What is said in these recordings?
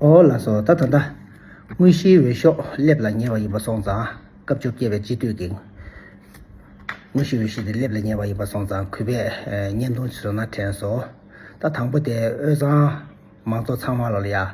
ཨོ་ལ་སོགས་ད་ད་ད། དངོས་གཞིའི་འོས་ཤོག་སླེབས་ལ་ཉེ་བ་ཡིན་པ་སོང་ཙང་སྐབས་བཅོ་བརྒྱད་པའི་སྤྱི་འཐུས་ཀྱི་དངོས་གཞིའི་འོས་གཞི་དེ་སླེབས་ལ་ཉེ་བ་ཡིན་པ་སོང་ཙང་གུས་པས་བརྙན་ཐུང་བཟོས་ན་དྲན་སོང། ད་དང་པོ་དེ་དབུས་གཙང་མང་ཚོགས་ཚང་མ་ལ་ཡང་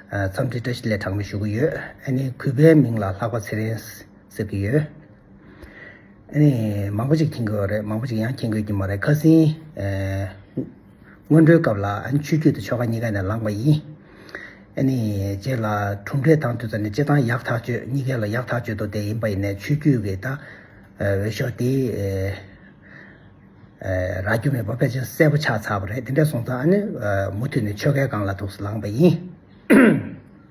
འཚམས་འདྲི་བཀྲ་ཤིས་ལས་དྲག་མོ་ཞུ་གི་ཡོད། ཨ་ནི་གུས་པའི་མིང་ལ་ལྷག་པ་ཚེ་རིང་ཟེར་གི་ཡོད། ཨ་ནི་མང་པོ་ཞིག་མཁྱེན་དགོས་བ་རེད་མང་པོ་ཞིག་ཡང་མཁྱེན་དགོས་ཀྱི་མ་རེད་ཁ་སིན། སྔོན་འགྲོའི་སྐབས་ལ་ཆུ་རྒྱུས་དང་ཆོ་ག་གཉིས་ཀ་ནས་ལངས་པ་ཡིན། རྗེས་ལ་གྲུབ་འབྲས་དང་དུས་ཚོད་ནི་སྤྱི་དང་ཡག་ཐག་གཅོད་གཉིས་ཀའི་ལ་ཡག་ཐག་གཅོད་དོ་དེ་ཡིན་པ་ཡིན་ནས་ཆུ་རྒྱུས་ཀྱི་ད་འོས་ཤོག་དེ་རག་རྒྱུ་མེད་པ་དཔེ་ཆ་གསལ་པོ་ཆགས་ཚར་བ་རེད་དེ་འདྲ་སོང་ཙང་མུ་མཐུད་ནས་ཆོ་གའི་སྒང་ལ་ཐུགས་སུ་ལངས་པ་ཡིན།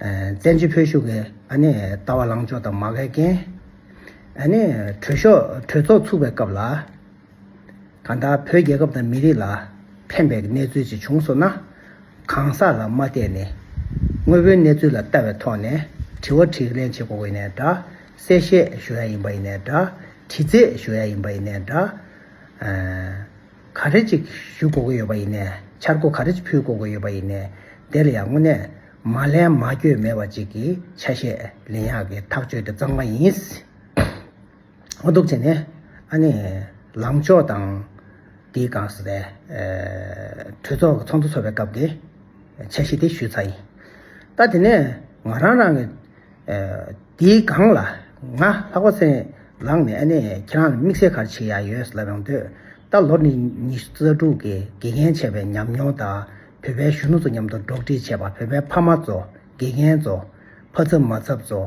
བཙན་བྱོལ་བོད་གཞུག་གི་ལྟ་བ་ལངས་ཕྱོགས་དང་མ་འགལ་རྐྱེན། གྲོས་ཚོགས་ཚུགས་པའི་སྐབས་ལ། གང་ལྟར་བོད་རྒྱལ་ཁབ་དང་མི་རིགས་ལ་ཕན་པའི་གནས་ཚུལ་ཅིག་བྱུང་སོང་ན། གང་ཟག་ལ་མ་བལྟས་ནས། དངོས་པོའི་གནས་ཚུལ་ལ་ལྟ་བའི་ཐོག་ནས་དྲི་བ་དྲིས་ལན་བྱེད་དགོས་ཡིན་ནས་འདྲ། གསལ་བཤད་ཞུ་ཡ་ཡིན་པ་ཡིན་ནས་འདྲ། དྲི་རྩད་ཞུ་ཡ་ཡིན་པ་ཡིན་ནས་འདྲ། ག་རེ་ཅིག་ཞུ་དགོས་ཀྱི་ཡོད་པ་ཡིན་ནས་འཆར་སྒོ་ག་རེ་ཅིག་ཕུལ་དགོས་ཀྱི་ཡོད་པ་ཡིན་ནས་དེ་ལ་ཡང་དངོས་གནས་མ་ལན་མ་བསྐྱོད་མེད་པ་ཅིག་གི་ཆ་ཤས་ལན་ཡག་གི་ཐག་གཅོད་དེ་གཙང་མ་ཡིན། ཨོ་སྡུག་ཅིག་ནི། ཨ་ནི། ལངས་ཕྱོགས་དང། དེའི་སྒང་ཟེར་ཏེ། གྲོས་ཚོགས་ཀྱི་ཚོགས་འདུ་ཚོགས་པའི་སྐབས་ཀྱི། འཆར་གཞི་དེ་ཞུས་ཚར་ཡིན། ད་དེ་ནས། ང་རང་རང་གི། དེའི་སྒང་ལ། ང་ལྷག་པ་སེང། ལངས་ནས་ཨ་ནི་ཁྱེད་རང་ལ་དམིགས་བསལ་གར་ཆེ་ཡག་ཡོད་ལབ་ཡོང་འདོད། ད་ལོ་ནི་ཉི་ཤུ་རྩ་དྲུག་གི་དགེ་རྒན་བྱས་པའི་ཉམས་མྱོང་དང་བོད་པའི་གཞོན་ནུ་ཚོ་མཉམ་དུ་སྒྲོག་འགྲིག་བྱས་པ་བོད་པའི་ཕ་མ་ཚོ། དགེ་རྒན་ཚོ། ཕ་ཚབ་མ་ཚབ་ཚོ།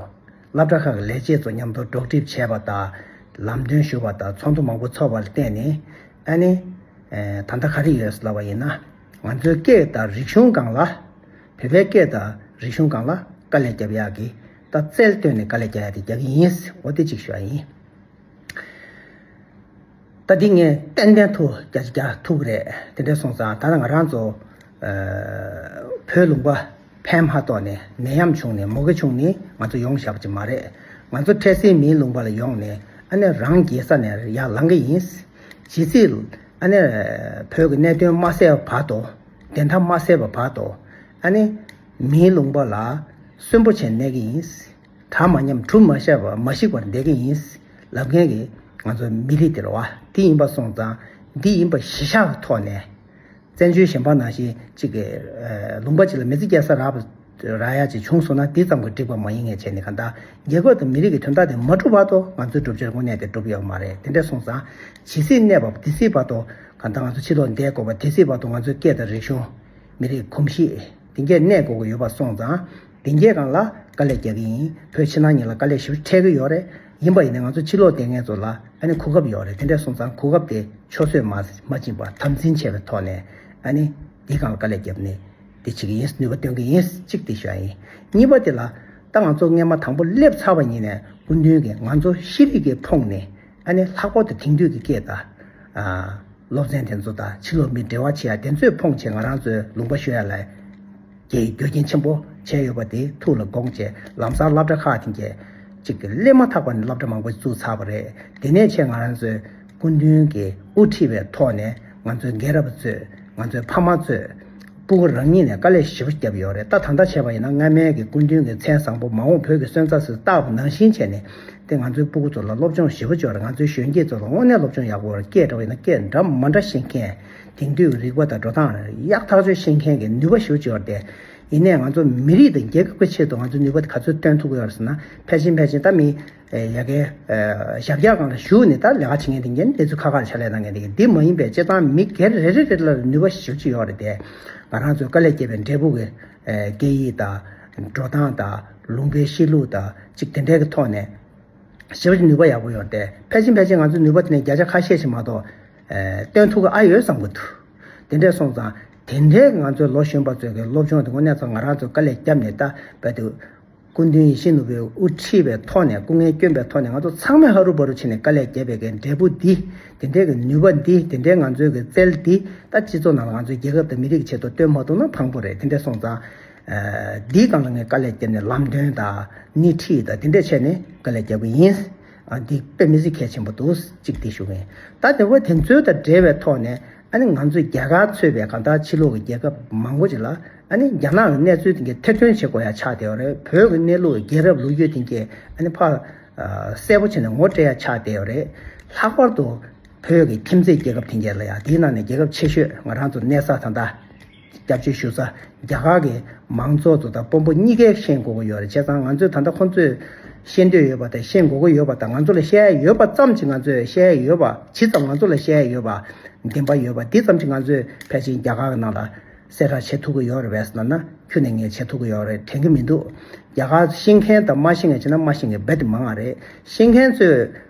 སླབ་གྲ་ཁག་གི་ལས་བྱེད་ཚོ་མཉམ་དུ་སྒྲོག་འགྲིབ་བྱས་པ་དང། ལམ་སྟོན་ཞུ་བ་དང་ཚོགས་འདུ་མང་པོ་ཚོགས་པ་ལ་བརྟེན་ནས། ཨ་ནི། ད་ལྟ་ག་རེ་ཡོད་ཟེར་ལབ་པ་ཡིན་ན། ང་ཚོའི་སྐད་དང་རིག་གཞུང་སྒང་ལ། བོད་པའི་སྐད་དང་རིག་གཞུང་སྒང་ལ་དཀའ་ལས་རྒྱབ་ཡག་གི། ད་རྩལ་བཏོན་ནས་དཀའ་ལས་རྒྱག་ཡག་དེ་རྒྱག་གི་ཡིན། འོ་དེ་གཅིག་ཞུ་བ་ཡིན། ད་འདི་ངས་ཏན་ཏན་ཐུགས་རྒྱ་ཆེ་རྒྱ་ཐུག་རེད་དེ་འདྲས་སོང་ཙང་ད་ང་རང་ཚོ་བོད་ལུང་པ་ཕན་མ་གཏོགས་ནས་ནད་ཡམས་བྱུང་ནས་མོ་གེ་བྱུང་ནི་ང་ཚོ་ཡོང་ཞབས་ཀྱི་མ་རེད་ང་ཚོ་འཕྲལ་སེལ་མིའི་ལུང་པ་ལ་ཡོང་ནས་ཨ་ནེ་རང་རྒྱལ་ས་ནས་ཡར་ལང་གི་ཡིན་ཇི་སྲིད་ཨ་ནེ་བོད་ཀྱི་གནད་དོན་མ་སེལ་བ་བར་དུ་བདེན་མཐའ་མ་སེལ་བ་བར་དུ་ཨ་ནེ་མིའི་ལུང་པ་ལ་གསོན་པོ་བྱས་གནས་གི་ཡིན། གྲངས་མ་ཉམས་གྲུབ་མ་ཤར་བར་མ་ཞིག་པར་འདེགས་ཀྱི་ཡིན། ལབ་མཁན་གྱི་ང་ཚོ་མི་རིགས་དེར་བ་འདི་ཡིན་པ་སོང་ཙང་འདི་ཡིན་པ་གཞི་བཞག་གི་ཐོག་ནས། བཙན་བྱོལ་གཞན་ཕ་ནང་བཞིན་གཅིག་གི་ལུང་པ་གཅིག་ལ་མི་ཚེ་བསྐྱལ་ས་རག་པ་རག་ཡ་གཅིག་བྱུང་སོང་ན་འདི་ཙམ་གྱི་འགྲིག་པ་མ་ཡིན་ངས་བྱས་ནས་གང་ལྟར་རྒྱལ་ཁབ་དང་མི་རིགས་ཀྱི་དོན་དག་དེ་མ་འགྲུབ་བར་དུ་ང་ཚོའི་སྒྲུབ་བྱེད་དངོས་གནས་དེ་འགྲུབ་ཡོད་མ་རེད་དེ་འདྲས་སོང་ཙང་ཇི་སྲིད་གནས་བབ་འདི་སྲིད་བར་དུ་གང་ལྟར་ང་ཚོ་ཕྱི་ལོག་འདས་དགོས་པ་དེ་སྲིད་བར་དུ་ང་ཚོའི་སྐད་དང་རིག་གཞུང། མི་རིགས་གོམས་གཤིས། དེ་འགས་གནས་དགོས་ཀྱི་ཡོད་པ་སོང་ཙང། བདེ་མཁྱེན་རང་ལ་དཀའ་ལས་རྒྱག་གི་ཡིན་བོད་ཕྱི་ནང་གཉིས་ལ་དཀའ་ལས་ཞི་བར་འཕྲད་ཀྱི་ཡོད་རེད་ཡིན་པ་ཡིན་ནའི་ང་ཚོ་ཕྱི་ལོག་ལྟས་ངན་ཚོ་ལ་ཨ་ནི་གོ་སྐབས་ཡོད་རེད་དེ་འདྲས་སོང་ཙང་གོ་སྐབས་དེ་ཆོས་བཟོས་མ་མ་ཕྱིན་པར་དམ་འཛིན་བྱས་པའི་ཐོག་ནས་ཨ་ནི་དེ་གང་ལ་དཀའ་ལས་རྒྱབ་ནས་དེ་བྱེད་ཀྱི་ཡིན་ནུས་པ་སྟོན་གྱི་ཡིན་གཅིག་དེ་ཤོད་ཡིན་གཉིས་པ་དེ་ལ་ད་ང་ཚོ་རྔན་མ་དང་པོ་སླེབས་ཚར་བ་ཉིད་ནས་སྐུ་མདུན་གྱིས་ང་ཚོ་ཤེས་རིག་གི་ཕོངས་ནས་ཨ་ནི་ལྷག་པར་དུ་དེང་དུས་ཀྱི་སྐད་དང། སློབ་ཚན་དེ་ཚོ་དང་ཕྱི་ལོག་མི་འབྲེལ་བ་བྱེད་ཡ་དེ་ཚོས་ཕོངས་ཆེད་ང་རང་ཚོས་ལུང་པ་ཤོད་ཡ་ལ། ཀྱི་རྒྱུ་རྐྱེན་ཆེན་པོ་བྱས་ཡོད་པ་དེ་ཐུགས་ལ་དགོངས་བཅས་ལམ་སང་སླབ་གྲྭ་ཁག་ཅིག་གི་གཅིག་གི་སླེབས་མ་ཐག་པ་ནས་སླབ་གྲྭ་མང་པོ་བཙུགས་ཚར་བ་རེད་དེ་ནས་ཆེད་ང་རང་ཚོའི་སྐུ་མདུན་གྱི་དབུ་ཁྲིད་པའི་ཐོག་ནས་ང་ཚོའི་རྒན་རབས་གཙོས་ང་ཚོའི་ཕ་མ་གཙོས་སྤུན་དགུ་རང་ཉིད་ནས་དཀའ་ལས་ཞིབ་པོ་བརྒྱབ་ཡོད་རེད་ད་ད་ལྟ་བྱས་པ་ཡིན་ན་སྔ་མའི་གི་སྐུ་མདུན་གྱི་མཚན་བཟང་པོ་མ་འོངས་བོད་ཀྱི་སོན་རྩ་སུས་བཏགས་པ་ནང་བཞིན་བྱས་ནས་དེ་ང་ཚོའི་སྤུ་གུ་ཚོ་ལ་སློབ་སྦྱོང་ཞིབ་པོ་བྱོས་རེད་ང་ཚོའི་གཞོན་སྐྱེས་ཚོ་ལ་དངོས་གནས་སློབ་སྦྱོང་ཡག་པོ་བར་སྐྱེས་འདྲ་བ་ཡིན་ན་སྐྱེས་འདྲ་མ་འདྲ་བཤད་མཁན་དེང་དུས་རིག་པ་དང་འགྲོ་སྟངས་ཡག་ཐག་གཅོད་བྱེད་མཁན་གྱི་ནུས་པ་ཞུ་བཅུག་པར་བརྟེན། ཡིན་ནས་ང་ཚོ་མི་རིགས་དང་རྒྱལ་ཁབ་ཀྱི་ཆེད་དུ་ང་ཚོས་ནུས་པ་དེ་ག་ཚོད་བཏོན་ཐུབ་དགོས་པ་ཟེར་ན་ཕལ་ཆེན་ཕལ་ཆེན་ད་མི་ཡ་གའི་ཞབས་བཀྱག་སྒང་ལ་ཞུགས་ནས་ད་ལས་ཀ་བྱེད་མཁན་དེ་འགན་ལེ་ཚུལ་ཁ་ཁར་ཕྱག་ལས་གནང་མཁན་དེ་གི་འདི་མ་ཡིན་པའི་བྱེད་སྟངས་མི་སྒེར་རེ་རེ་རེ་ལ་ནུས་པ་ཞུ་བཅུག་ཡོད་པར་བརྟེན། ང་རང་ཚོའི་དཀའ་ལས་སྐྱེས་པའི་འབྲས་བུ་གི་སྐད་ཡིག་དང། འགྲོ་སྟངས་དང་ལུང་པའི་གཤིས་ལུགས་དང་གཅིག་དེ་འདྲའི་གི་ཐོག་ནས། ཞི་བ་ནུས་པ་ཡག་པོ་ཡོད་པར་བརྟེན་ཕལ་ཆེན་ཕལ་ཆེན་ང་ཚོས་ནུས་པ་དེ་ནས་བརྒྱ་ཆ་ཁ་ཤས་ཤིག་མ་གཏོགས། སྟོན་ཐུག་ཨ་ཡོད་བསམ་གྱི་འདུག་དེ་འདྲས་སོང་ཙང། དེ་འདྲས་ང་ཚོའི་ལོ་གཞོན་པ་ཚོས་གི་སློབ་སྦྱོང་དེ་དངོས་གནས་ཚོ་ང་རང་ཚོས་དཀའ་ལས་བརྒྱབ་ནས་བལྟ་བས་དུས། སྐུ་མདུན་ཡིད་བཞིན་ནོར་བུའི་དབུ་ཁྲིད་པའི་ཐོག་ནས་སྐུ་ངལ་བསྐྱོན་པའི་ཐོག་ནས་ང་ཚོ་ཚང་མས་ཧ་རུ་བ་རུ་བྱས་ནས་དཀའ་ལས་བརྒྱབ་པས་གི་འབྲས་བུ་འདི། དེ་འདྲས་གི་ནུས་པ་འདི་དེ་འདྲས་ང་ཚོའི་གི་རྩལ་འདི་ད་སྤྱི་ཚོགས་ནང་ལ་ང་ཚོའི་རྒྱལ་ཁབ་དང་མི་རིགས་ཀྱི་ཆེད་དུ་སྟོན་མ་ཐུག་ན་ཕངས་པོ་རེད་དེ་འདྲས་སོང་ཙང། འདིའི་སྒང་ལ་ངས་དཀའ་ལས་བརྒྱབ་ནས་ལམ་སྟོན་དང། སྣེ་ཁྲིད་དང་དེ་འདྲས་བྱས་ནས་དཀའ་ལས་བརྒྱབ་གི་ཡིན། འདི་དཔེ་མི་གཟིགས་གལ་ཆེན་པོ་འདུག་གཅིག་དེ་ཞུ་མེད་ད་དེ་འོས་དེ་ཚོའི་དང་འབྲེལ་བའི་ཐོག་ནས་ཨ་ནི་ང་ཚོས་རྒྱ་གར་ཚུད་པའི་གང་ལྟར་ཕྱི་ལོག་གི་རྒྱལ་ཁབ་མང་པོ་ཅིག་ལ་ཨ་ནི་རྒྱ་ནག་གི་གནས་ཚུལ་དེ་གའི་ཐེར་འདོན་བྱེད་དགོས་ཡ་ཆགས་བསྡད་ཡོད་རེད་བོད་ཀྱི་གནས་ལུགས་རྒྱལ་རབས་ལུགས་རྒྱུད་དེ་གའི་ཨ་ནི་ཕར་གསལ་པོ་བྱས་ནས་ངོ་སྤྲད་ཡ་ཆགས་བསྡད་ཡོད་རེད་ལྷག་པར་དུ་བོད་ཀྱི་ཁྱིམ་མཚེས་རྒྱལ་ཁབ་དེ་གའི་ལ་ཡ་དེའི་ནང་ནས་རྒྱལ་ཁབ་ཆེ་ཤོས་ང་རང་ཚོ་གནས་ས་ད་ལྟ། སྐྱབས་བཅོལ་ཞུ་ས་རྒྱ་གར་གྱི་མང་ཚོགས་ཚོ་དང་དཔོན་པོ་གཉིས་ཀས་ཤེས་དགོས་ཀྱི་ཡོད་རེད་བྱས་ཙང་ང་ཚོས་ད་ལྟ་ཁོང་ཚོས་ཤེས་འདོད་ཡོད་པ་དང་ཤེས་དགོས་ཀྱི་ཡོད་པ་དང་ང་ཚོ་ལ་བཤད་ཡས་ཡོད་པ་ཙམ་གྱིས་ང་ཚོས་བཤད་ཡས་ཡོད་པ་ཇི་ཙམ་ང་ཚོ་ལ་བཤད་ཡས་ཡོད་པ་བདེན་པ་ཡོད་པ་དེ་ཙམ་གྱིས་ང་ཚོས་ཕལ་ཆེན་རྒྱ་གར་གྱི་ནང་ལ་གསལ་བསྒྲགས་བྱེད་ཐུབ་ཀྱི་ཡོད་རེད་བས་སུ་ན་ན་ཁྱོད་ནས་ངས་བྱེད་ཐུབ་ཀྱི་ཡོད་རེད་དྲན་གྱི་མི་འདུག་རྒྱ་གར་ཤེས་མཁན་དང་མ་ཤེས་མཁན་བྱས་ན་མ་ཤེས་མཁན་རྦད་དེ་མང་བ་རེད་ཤེས་མཁན་ཚོས།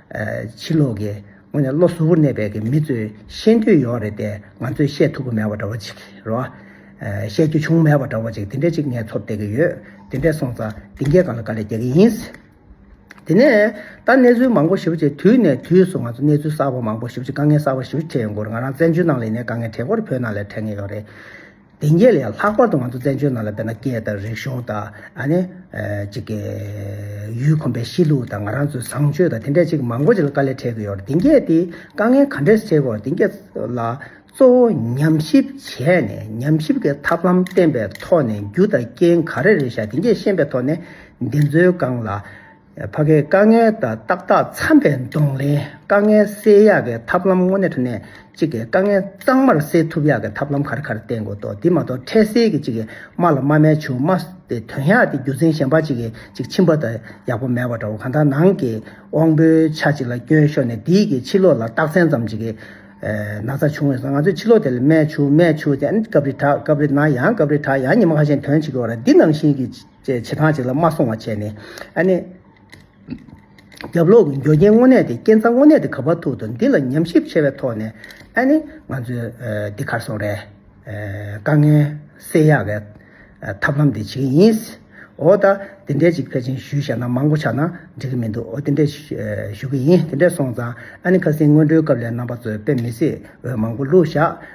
ཕྱི་ལོག་གི་སྔོན་ནས་བློ་གཟུ་བོར་གནས་པའི་མི་ཚོས་ཤེས་འདོད་ཡོད་རེད་དེ་ང་ཚོས་བཤད་ཐུབ་ཀྱི་མེད་པ་འདྲ་བོ་ཅིག་རེད། བཤད་རྒྱུ་བྱུང་མེད་པ་འདྲ་བོ་ཅིག་དེ་འདྲ་ཅིག་ངས་ཚོར་བསྡད་ཀྱི་ཡོད། དེ་འདྲས་སོང་ཙང་སྡིངས་རྒྱལ་ཁང་ལ་དཀའ་ལས་རྒྱག་གི་ཡིན། དེ་ནས་ད་གནས་ཚུལ་མང་པོ་ཞིབ་བྱས་དུས་ནས་དུས་སུ་ང་ཚོ་གནས་ཚུལ་གསར་བ་མང་པོ་ཞིབ་བྱས་དཀའ་ངལ་གསར་བ་ཞིབ་བྱས་ཡོང་སྐོར་ང་རང་བཙན་བྱོལ་ནང་ལས་ནས་དཀའ་ངལ་གྲལ་མགོར་བོད་ནང་ལས་འཕྲད་ངེས་ཡོད་རེད། དེ་ཉིད་ལས་ལྷག་པར་དུ་ང་ཚོ་བཙན་བྱོལ་ནང་ལ་བལྟས་ན་སྐད་དང་རིག་གཞུང་དང། ཡུལ་གོམས་པའི་གཤིས་ལུགས་དང་ང་རང་ཚོའི་བཟང་སྤྱོད་དང་དེ་འདྲ་ཅིག་མང་པོ་ཅིག་ལ་དཀའ་ལས་འཕྲད་ཀྱི་ཡོད་རེད། དེ་སྐད་དེ་དཀའ་ངལ་ག་འདྲས་འཕྲད་གོ་དེ་སྐད་ལ་གཙོ་བོ་ཉམས་ཞིབ་བྱས་ནས་ཉམས་ཞིབ་ཀྱི་ཐབས་ལམ་བསྟེན་པའི་ཐོག་ནས་རྒྱུ་དང་རྐྱེན་ག་རེ་རེད་ཤག་དེ་འདྲས་ཤེས་པའི་ཐོག་ནས་འདི་ཚོའི་སྒང་ལ། ཕ་གའི་དཀའ་ངལ་དང་ཏག་ཏག་འཚམ་པའི་གདོང་ལེན་དཀའ་ངལ་སེལ་ཡག་གི་ཐབས་ལམ་དངོས་གནས་ནས་གཅིག་གི་དཀའ་ངལ་གཙང་མར་སེལ་ཐུབ་ཡག་གི་ཐབས་ལམ་ག་རེ་ག་རེ་བསྟེན་དགོས་དོ་དེ་མ་གཏོགས་འཕྲལ་སེལ་གྱི་གཅིག་གི་རྨ་ལ་རྨ་མའི་ཆུ་རྨ་སྟེ་དོན་ཡག་དེ་རྒྱུ་མཚན་གཞན་པ་གཅིག་གིས་གཅིག་འཆིང་པ་དང་ཡག་པོ་མེད་པ་འདྲ་བོ་གང་ལྟར་ནང་གི་དབང་པོའི་ཆ་གཅིག་ལ་སྐྱོན་ཤོར་ནས་དེའི་གིས་ཕྱི་ལོགས་ལ་རྟགས་མཚན་ཙམ་གཅིག་གི་ན་ཚ་བྱུང་བས་སོ་ང་ཚོས་ཕྱི་ལོགས་དེ་ལ་རྨའི་ཆུ་རྨའི་ཆུ་དེ་ཨ་ནི་སྐབས་རེ་དྲག་སྐབས་རེ་ན་ཡང་སྐབས་རེ་དྲག་ཡང་ཉི་མ་ཁ་ཤས་དོན་གཅིག་གི་བར་འདི་ནང་བཞིན་གྱི། ཅེས་བྱེ་ཐང་གཅིག་ལ་མ་སོང་བ་བྱས་ནས། ཨ་ནེ། རྒྱབ་ལོག་གི་འགྱོ་རྒྱན་དངོས་གནས་དེ་རྐྱེན་རྩ་དངོས་གནས་དེ་ག་བར་ཐུག་འདུག་འདི་ལ་ཉམས་ཞིབ་ཆེ་བའི་ཐོག་ནས། ཨ་ནེ། ང་ཚོས་འདི་གར་སོང་རེས། དཀའ་ངལ་སེལ་ཡག་བའི། ཐབས་ལམ་དེ་བྱེད་ཀྱི་ཡིན། འོ་ད། དེ་འདྲའི་ཅིག་ཕལ་ཆེན་ཞུས་བཤད་ན་མང་པོ་ཆགས་ན་འགྲིག་གི་མི་འདུག་འོ་དེ་འདྲས་ཞུ་གི་ཡིན་དེ་འདྲས་སོང་ཙང་ཨ་ནེ་ཁ་སིང་སྔོན་འགྲོའི་སྐབས་ལས་རྣམ་པ་ཚོས་དཔེ་མི་སྲིད་འོས་མང་པོ་བླུགས་བཞག།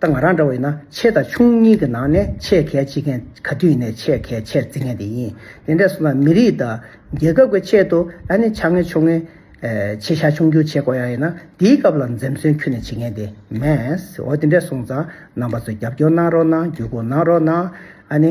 ད་ང་རང་འདྲ་བ་ཡིན་ན་ཆེ་དང་ཆུང་གཉིས་ཀྱི་ནང་ནས་ཆེས་གལ་ཆེ་མཁན་ག་དུས་ནས་ཆེས་གལ་ཆེར་བརྩི་མཁན་དེ་ཡིན། དེ་འདྲས་སོང་ན་མི་རིགས་དང། རྒྱལ་ཁབ་ཀྱི་ཆེད་དུ་ད་ནི་ཆ་ངན་ཆུང་ངན། ཆེ་ཆ་ཆུང་ཆུང་བྱེད་དགོས་ཡག་ཡིན་ན་དེའི་སྐབས་ལ་འཛེམ་ཟོན་ཁྱོད་ནས་བྱེད་མཁན་དེ་མེད། འོ་དེ་འདྲས་སོང་ཙང་རྣམ་པ་ཚོས་རྒྱབ་སྐྱོར་གནང་རོགས་གནང་བརྒྱུད་སྐུར་གནང་རོགས་གནང། ཨ་ནི།